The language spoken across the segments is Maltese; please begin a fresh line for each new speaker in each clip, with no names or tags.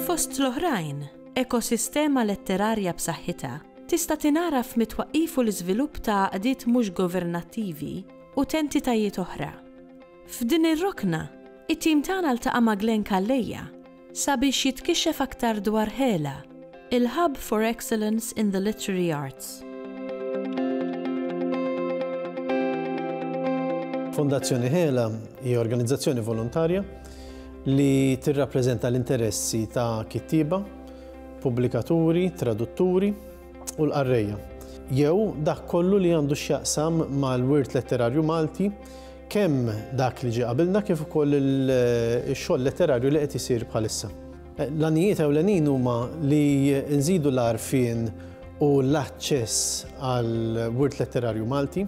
Fost l-oħrajn, ekosistema letterarja b'saħħitha tista' tingħara f'mitwaqqif u l-iżvilupp ta' għaqdiet mhux governattivi u t'entitajiet oħra. F'din ir-rokna, it-tim tagħna ltaqa' ma' Glenn Calleja sabiex jitkixxef aktar dwar HELA, il-Hub for Excellence in the Literary Arts. Fondazzjoni HELA hija organizzazzjoni volontarja li tirrappreżenta l-interessi ta' kittieba, pubblikaturi, tradutturi u l-qarrejja, jew dak kollu li għandu x'jaqsam mal-wirt letterarju Malti Kemm dak li ġie qabilna kif ukoll ix-xogħol letterarju li qed isir bħalissa. L-għanijiet ewlenin huma li nżidu l-għarfien u l-aċċess għall-wirt letterarju Malti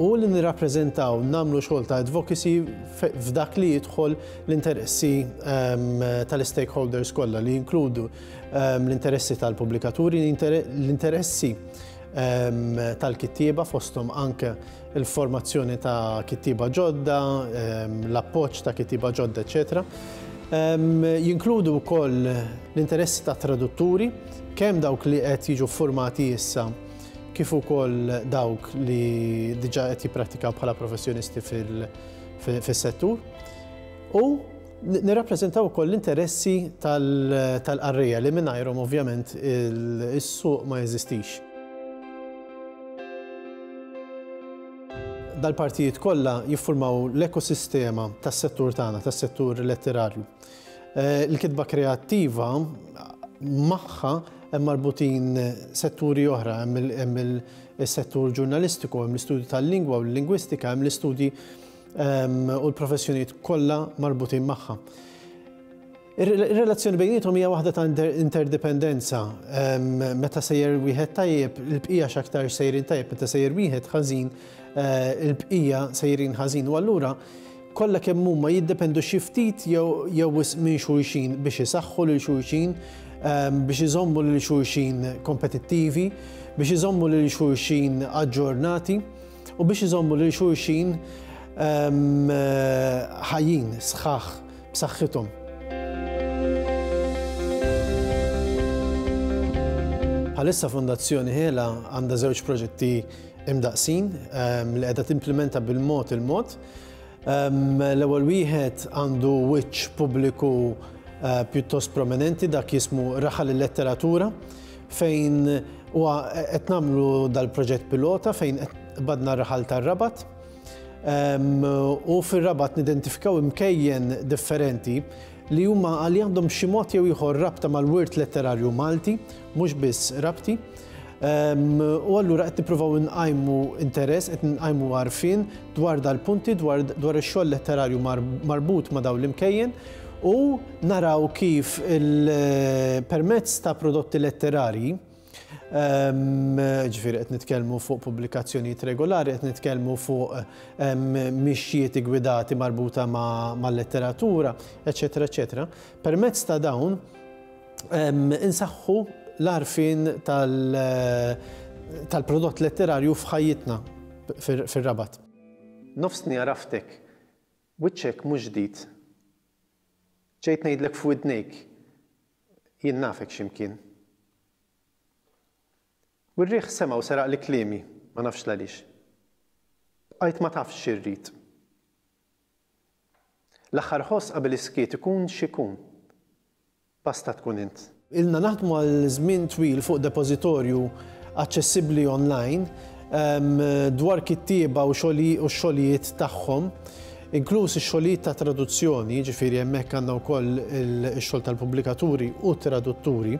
u li nirrappreżentaw, nagħmlu xogħol ta' advocacy f'dak li jidħol l-interessi ehm, tal-stakeholders kollha li jinkludu ehm, l-interessi tal-pubblikaturi, l-interessi ehm, tal-kittieba fosthom anke il-formazzjoni ta' kittieba ġodda, l-appoġġ ta' kittieba ġodda, eċetera. Jinkludu wkoll l-interessi ta' tradutturi, kemm dawk li qed jiġu formati issa kif ukoll dawk li diġà qed jipprattikaw bħala professjonisti fis-settur. U Nirrappreżentaw ukoll l-interessi tal-qarrejja li mingħajrhom ovvjament is-suq ma jeżistix. Dal-partijiet kollha jiffurmaw l-ekosistema tas-settur tagħna, tas-settur letterarju. Il-kitba kreattiva magħha hemm marbutin setturi oħra, hemm is-settur ġurnalistiku, hemm l-istudju tal-lingwa u l-lingwistika, hemm l-istudji ehm, u l-professjonijiet kollha marbutin magħha. Ir-relazzjoni bejnietom hija waħda ta' interdependenza. Ehm, meta sejjer wieħed tajjeb, il-bqija x'aktar sejrin tajjeb, meta sejjer wieħed ħażin, eh, il-bqija sejrin ħażin. U allura kollha kemm huma jiddependu xi ftit jew wisq minn xulxin biex isaħħu lil xulxin Ehm, biex iżommu lil xulxin kompetittivi, biex iżommu lil xulxin aġġornati. u biex iżommu lil xulxin ħajjin, sħaħ, b'saħħithom. Bħalissa Fondazzjoni Hela għandha żewġ proġetti imdaqsin li qiegħda timplimenta bil-mod il-mod. L-ewwel wieħed għandu wiċċ pubbliku eh, pjuttost prominenti dak jismu Raħal il-Letteratura fejn huwa qed nagħmlu dal-proġett pilota fejn qed badna r-raħal tar-Rabat u fir-Rabat nidentifikaw imkejjen differenti li huma li għandhom xi mod jew ieħor rabta mal-wirt letterarju Malti, mhux biss rabti. U allura qed nippruvaw inqajmu interess, qed nqajmu għarfien dwar dal-punti dwar ix-xogħol letterarju marbut ma' dawn l-imkejjen. U naraw kif permezz ta' prodotti letterarji, ġifieri qed nitkellmu fuq pubblikazzjonijiet regolari, qed nitkellmu fuq mixjiet igwidati marbuta mal-letteratura, eċċetera eċċetera, permezz ta' dawn insaħħu l-għarfien tal-prodott letterarju f'ħajjitna fir-Rabat. Nofsni għaraftek. Wiċċek mhux ġdid. Ġejt ngħidlek f'widnejk, jien nafek xi mkien. U r-riħ sema' u seraqli kliemi, ma nafx l-għaliex. Bqajt ma tafx xi rrid. L-aħħar ħoss qabel is-skiet ikun x'ikun. Basta tkun int. Ilna naħdmu għal żmien twil fuq depożitorju aċċessibbli online dwar kittieba u x-xogħlijiet tagħhom, inkluż ix-xogħlijiet ta' traduzzjoni, jiġifieri hemmhekk għandna wkoll ix-xogħol tal-pubblikaturi u t-tradutturi,